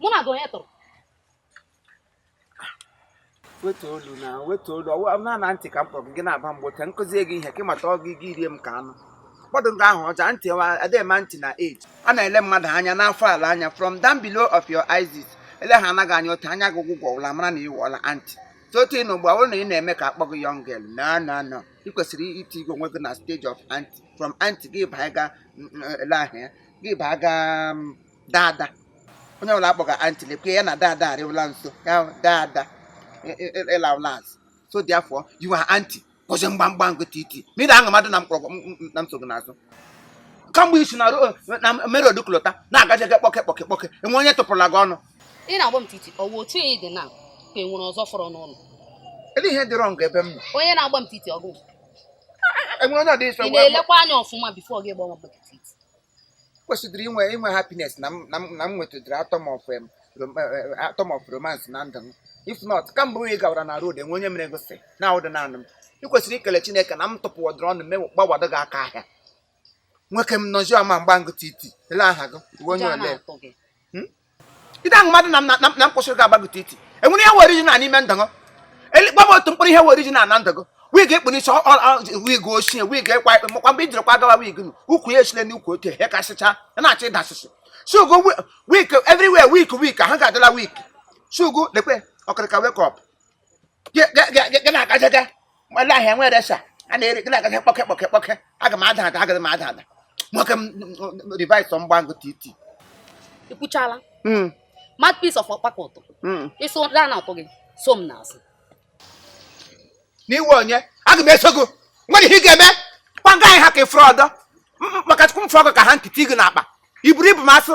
mụ na gị onye tọrọ wetu olu na wetu olu ọ wụ na na anti ka m kpọrọ gị na-aba mgbote m kụzie gị ihe ka ị mata ọgụ gị rie m ka anụ kpọdụ gị ahụ ọja ntị adịma anti na age a na-ele mmadụ anya n'afọ ala anya from down below of your eyes ele ha anaghị anya otu anya gị ụgwọ gwọwụla mara na ị wụọla anti so otu ị nọ ugbu a ọ bụrụ na ị na-eme ka akpọ gị young girl no no no ị kwesịrị itigo onwe gị na stage of anti from anti gị baa ga mm, mm, ele ahụ ya gị baa ga mm, dada onye ọbụla akpọga anti lekwe ya na dada arịwụla nso ya hụ dada e- e- e- ị lawụla azụ so therefore you are anti because m gba- m gba ngụ titi ma ị na-aṅụ mmadụ na mkpọrọgwụ m- m- na nsogbu n'azụ kamgbe i si na ro- na main road kolota na-agajega kpọke kpọke kpọke enwe onye tụpụrụla gị ọnụ ị na-agba m titi ọ wụ otu ị dị na ka e nwere ọzọ fọrọ n'ụlọ Ele ihe dị wrong ebe m nọ. onye na-agba m titi ọgụ Enwere onye ọ dị easy ị na-elekwa anya ọfụma before gị gbawa m titi kwesịrị inwe inwe happiness na m- na m- na m nwetụdịrị atom of em, rom- eh, eh, atom of romance na ndụ m. If not, kamgbe onye gawara na road enwe onye mere gosi na ụdị naanị m. Ị kwesịrị ikele Chineke na m tụpụwadoro ọnụ m gbawado gị aka ahịa. nwoke m nọzi ọma m gba ngụ titi ele aha gị iwe onye ole hmm? ide ahụ mmadụ na m kwụsịrị gị agba gụ titi enwere ihe wụ original n'ime ndụ gị gwa m otu mkpụrụ ihe wụ original na ndụ gị wig i kpu n'isi wig ochie wig ekwa ekpe makwa mgbe i jiri kwa gawa wig nu ukwu ya esile n'ukwu otu ihe kasịcha ya na-achọ ịdasịsị sugu weak everywhere weak weak ha ga-adịla weak sugu lekwe ọkịrịka wake up Gị- gị- gị- gị- gị na-agajega mmadụ ahụ enwere esa a na-eri gị na-agaja kpọke kpọke kpọke aga m ada ada agaghị m ada ada nwoke m reverse m gba ngụ titi ikwuchala Mm, mad piece of ọkpaka ụtọ mm. ịsụ gaa na ụtọ gị so m n'azụ n'iwe onye aga m eso gị nwere ihe ị ga-eme kpanga anyị ha ka ịfụrụ ọdọ M- m- maka chukwu m fụọ gụ ka ha nkịtị gị n'akpa iburu ibu m asụ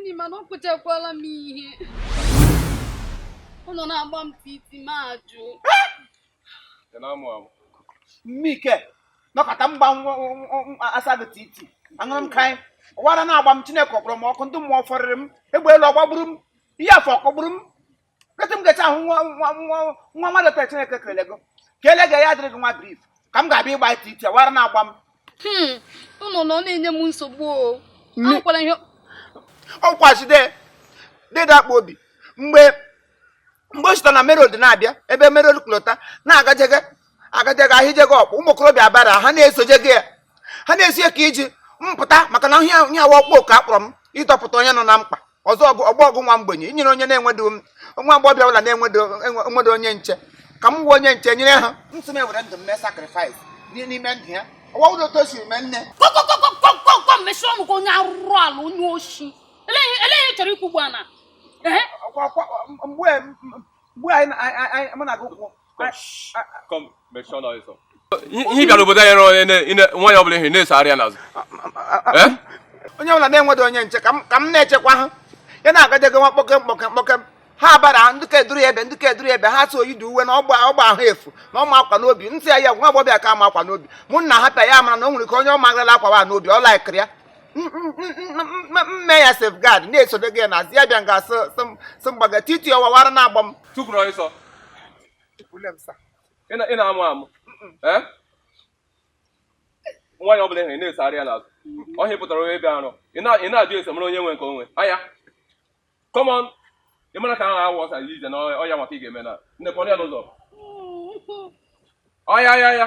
Ndị mana ọ kwuchakwala m ihe ọ nọ na-agba m titi m ajụ mmike nọkata m gbasaa gị titi aṅụrụ m kaị ọ wụ ara na-agba m chineke ọ kpọrọ m ọkụ ndị mmụọ fọrịrị m egbe elu ọ gbagburu m ihe afọ ọ kọgburu m etu m ga-eche ahụ nwa nwa nwa nwa mmadụ tere chineke kele gị kele gị ya adịrị gị nwa brif ka m ga-abịa ịgba titi ọ wụ ara na-agba m Hmm, ụnụ nọ na-enye m nsogbu o Nne- ahụkwala ihe ọkwachide dịda akpa obi mgbe mgbe o sita na main road na-abịa ebe main road kolota na-agajega agajega ahịjega ọkpụ ụmụ okorobịa bara ha na-esojega ya ha na-esi ya ka e ji m pụta maka na ihe ihe a wụ ọkpọ ka akpọrọ m ịdọpụta onye nọ na mkpa ọzọ ọgbọ ọgụ nwa ogbenye inyere onye na-enwedu nwa agbọghọbịa ọbụla na-enwedu onye nche ka m wuo onye nche nyere ha m sị m ewere ndụ m mee sacrifice n'ime ndụ ha ọwa ụlọ otu o siri mee nne kpọkpọkpọkpọkpọ mechie ọnụ ka onye arụrụ ala onye oshi elee ihe ị chọrọ ikwu ugbu a na ehe Ọkwa- ọkwa- mgbe mgbe anyị na- anyị- anyị- mụ na gị kwụ ihe bịara obodo anyị rụọ nwaanyị ọbụla ị na-esogharị ya n'azụ eh? onye ọbụla na-enwedu onye nche ka m na-echekwa ha ya na-agadego nwa kpọke mkpọke mkpọke ha bara ndị ka eduru ebe ndị ka eduru ebe ha so o yidu uwe na ọ gba ahụ efu na ọ ma akwa n'obi m sị ya nwa agbọbịa ka ama akwa n'obi mụ nna ha pịa ya mara na o nwere ike onye ọ magala akwa n'obi ọ like-iri ya m mee ya safeguard na-esodo gị n'azụ ya bịa nga sị mgbaga titi ọwawara na-agba m tukwuru ọsọ ị na-amụ amụ nwaanyị ọbụla ị hụrụ ị na-esogharị ya n'azụ ọhịa pụtara onye bịa arụ ị na-ajụ ese mara onye nwe nke onwe anya come on ị mara ka ahụ awụ ọsa ji ije na ọya maka ị ga-eme na nne pụọrọ ya n'ụzọ ọya ya ya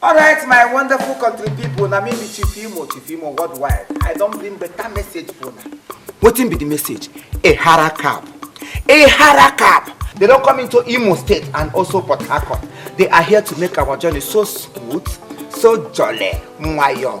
Alright, my wonderful country people, na me be Chief Imo, Chief Imo worldwide. I don bring better message for una. Wetin be the message? A hara cap. A hara cap. They don come into Imo State and also Port Harcourt. They are here to make our journey so smooth, so jolly, nwayo,